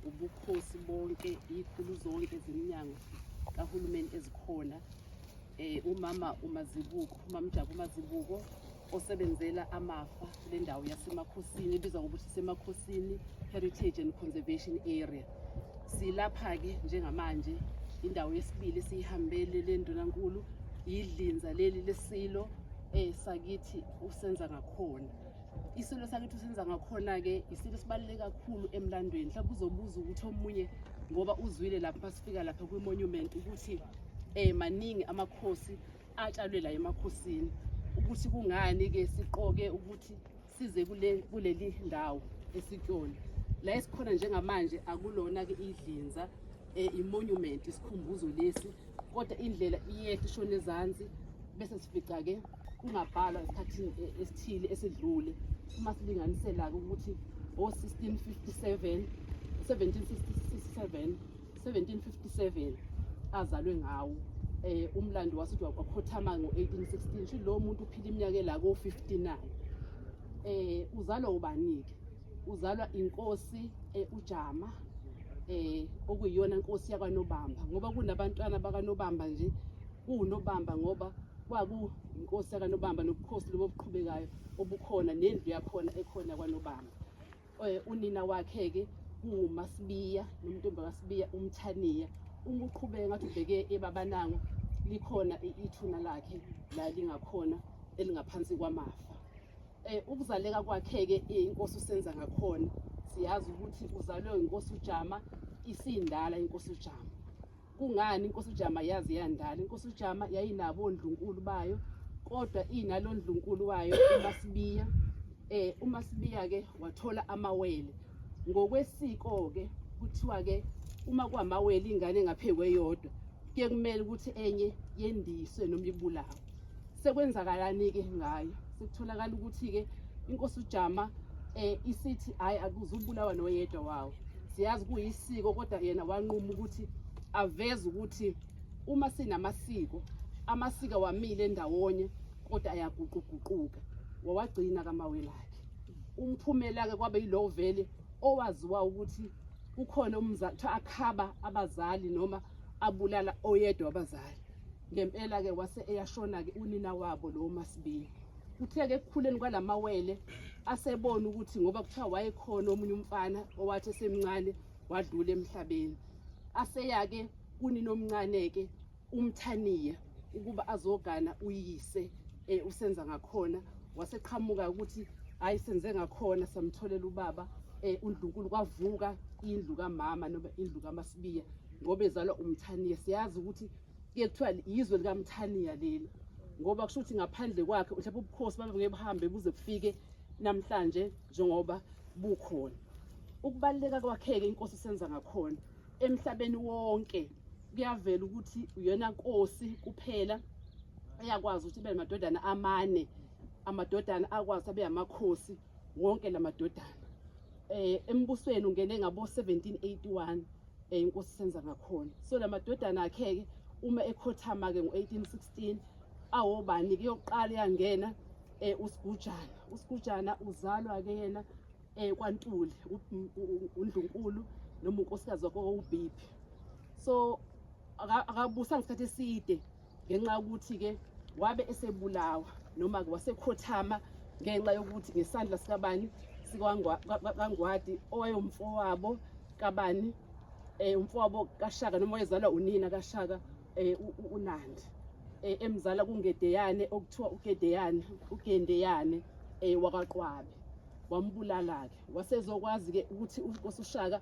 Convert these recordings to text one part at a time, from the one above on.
ubukhosi bonke iy'khulu zonke zeminyango kahulumeni ezikhona um umama umazibuko umamjabu umazibuko osebenzela amafa le ndawo yasemakhosini ebizwa ngokuthi semakhosini heritage and conservation area silapha-ke njengamanje indawo yesibili esiyihambele le ndunankulu yidlinza leli lesilo um sakithi usenza ngakhona isilo sakithi usenza ngakhona-ke isilo sibaluleke kakhulu emlandweni mhlawumbe uzobuza ukuthi omunye ngoba uzwile lapho masifika lapha kwi-monument ukuthi um maningi amakhosi atshalwe la emakhosini ukuthi kungani-ke siqoke ukuthi size kuleli ndawo esikuyona la esikhona njengamanje akulona-ke idlinza um eh, imonument isikhumbuzo lesi kodwa indlela iyehla ishona ezansi bese sifica-ke kungabhalwa esikhathini eh, esithile esidlule uma silinganisela-ke ukuthi o-1657 1767 1757 azalwe ngawo eh umlando wasuthi wakhothama ngo-1816 shi lo muntu uphila iminyaka la ko-59 eh uzalwa ubanike uzalwa inkosi eh, ujama eh okuyiyona inkosi yakwanobamba ngoba kunabantwana bakanobamba nje kuwunobamba ngoba kwakuyinkosi yakanobamba nobukhosi lobo obuqhubekayo obukhona nendlu yakhona ekhona kwanobamba Eh, unina wakhe-ke kunguMasibiya nomntombi kaSibiya uMthaniya uma uqhubeke ngathi ubheke ebabanango likhona ithuna lakhe la lingakhona elingaphansi kwamafa um ukuzaleka kwakhe-ke inkosi usenza ngakhona siyazi ukuthi uzalwe inkosi ujama isindala inkosi ujama Kungani inkosi uJama yazi yandala? Inkosi uJama yayinabo ondlunkulu bayo kodwa inalo ndlunkulu wayo uMasibiya. Eh uMasibiya ke wathola amawele. Ngokwesiko ke kuthiwa ke uma kwamawele ingane engaphekwe yodwa kuye kumele ukuthi enye yendiswe noma ibulawe. sekwenzakalani-ke ngayo sekutholakala ukuthi-ke inkosi ujama um isithi hhayi akuzubulawa noyedwa wawo siyazi kuyisiko kodwa yena wanquma ukuthi aveze ukuthi uma sinamasiko amasiko wamile ndawonye kodwa ayaguquguquka wawagcina kamawelakhe umphumela-ke kwabe yilowo vele owaziwa ukuthi kukhona umzali kuthiwa akhaba abazali noma abulala oyedwa abazali ngempela-ke wase eyashona-ke unina wabo lowo masibiya kuthe-ke ekukhuleni kwalamawele asebona ukuthi ngoba kuthiwa wayekhona omunye umfana owathi esemncane wadlula emhlabeni aseyake kunina omncane-ke umthaniya ukuba azogana uyise um usenza ngakhona waseqhamuka ukuthi hhayi senze ngakhona samtholela ubaba um undlunkulu kwavuka indlu kamama noma indlu kamasibiya ngoba ezalwa umthaniya siyazi ukuthi kuye kuthiwa yizwe likamthaniya leli ngoba kusho ukuthi ngaphandle kwakhe mhlawumbe ubukhosi babeke buhambe buze kufike namhlanje njengoba bukhona ukubaluleka kwakheke inkosi senza ngakhona emhlabeni wonke kuyavela ukuthi uyona nkosi kuphela eyakwazi ukuthi ibe namadodana amane amadodana akwazi abe amakhosi wonke lamadodana eh embusweni ungene ngabo 1781 Eh inkosi senza ngakhona. So lamadodana akhe-ke uma ekhothama-ke ngo-1816 awobani-ke yokuqala yangena um eh, usigujana usigujana uzalwa-ke yena um kwantuli undlunkulu noma unkosikazi wakho ubhiphi so akabusa ngesikhathi eside ngenxa yokuthi-ke wabe esebulawa noma-ke wasekhothama ngenxa yokuthi ngesandla sikabani sikangwadi owayewumfowabo kabani um eh, umfowabo kashaka noma wayezalwa unina kashaka um unandi um emzala kungedeyane okuthiwa ugedeyane ugendeyane um wakwaqwabe wambulala-ke wasezokwazi-ke ukuthi uNkosi uShaka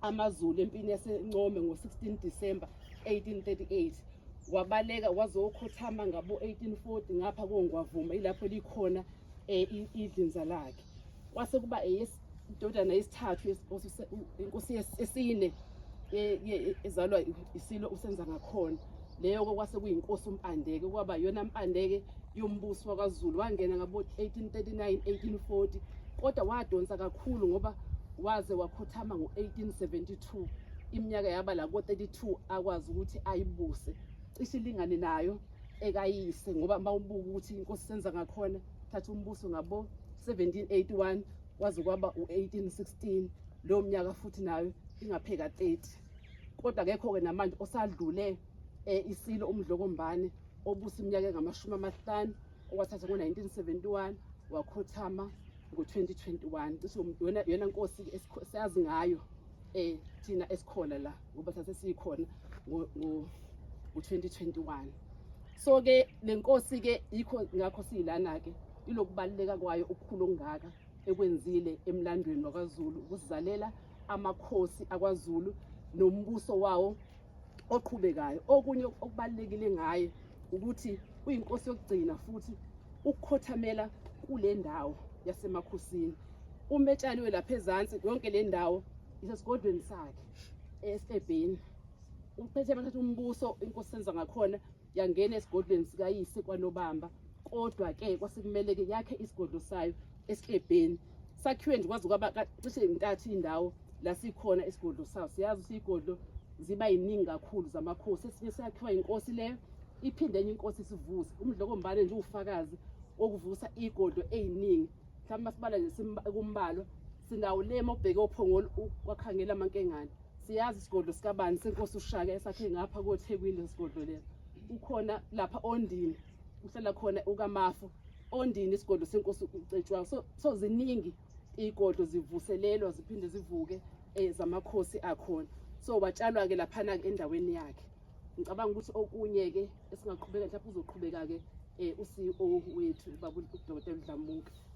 AmaZulu empini yaseNcome ngo-16 December 1838 wabaleka wazokhothama ngabo-1840 ngapha kongwavuma ilapho likhona um idlinza lakhe kwase kuba indodana yesithathu inkosi esine ezalwa isilo usenza ngakhona leyo kwakwase kuyinkosi uMpandeke kwaba yona Mpandeke yombuso wakwaZulu wangena ngabo 1839 1840 kodwa wadonsa kakhulu ngoba waze wakhothama ngo-1872 iminyaka yaba la ko-32 akwazi ukuthi ayibuse cishe ilingane nayo ekayise ngoba uma ubuka ukuthi inkosi senza ngakhona thatha umbuso ngabo-1781 waze kwaba u-1816 leyo mnyaka futhi nayo ingapheka 30 kodwa kekho-ke namanje osadlule um isilo umdlokombane obuse iminyaka engamashumi amahlanu okwathatha ngo-1971 wakhothama ngo-2021 cishe yona nkosi esiyazi ngayo um thina esikhona la ngoba thathe siyikhona ngo-2021 so-ke le nkosi-ke yikho ngakho siyilana-ke ilokubaluleka kwayo okukhulu okungaka ekwenzile emlandweni wakwaZulu ukusizalela amakhosi akwaZulu nombuso wawo oqhubekayo okunye okubalekile ngaye ukuthi uyinkosi yokugcina futhi ukukhothamela kule ndawo yasemakhosini uma etshaliwe lapha ezansi yonke le ndawo isesigodlweni sakhe esebheni uphethe abathatha umbuso inkosi senza ngakhona yangena esigodlweni sikayise kwanobamba kodwa ke kwasekumele ke yakhe isigodlo sayo esiklebheni sakhiwe nje kwazi kwaba cishe intathu indawo la sikhona isigodlo sayo siyazi sigodlo ziba yiningi kakhulu zamakhosi esinye sakhiwa inkosi leyo iphinde enye inkosi sivuse umdlokombane nje ufakazi okuvusa igodlo eziningi mhlawumbe masibala nje kumbalo sinawo lema obheke ophongolo kwakhangela amankengane siyazi isigodlo sikabani senkosi ushaka esakhe ngapha kothekwini lesigodlo lesi ukhona lapha ondini uhlala khona ukamafu ondini isigodlo senkosi ucetshwayo so, so ziningi iy'godlo zivuselelwa ziphinde zivuke um zamakhosi akhona so watshalwa-ke laphana-ke endaweni yakhe ngicabanga ukuthi okunye-ke esingaqhubeka mhlawumbe uzoqhubeka-ke um u-c e o wethu ubaba udokotela udlamuka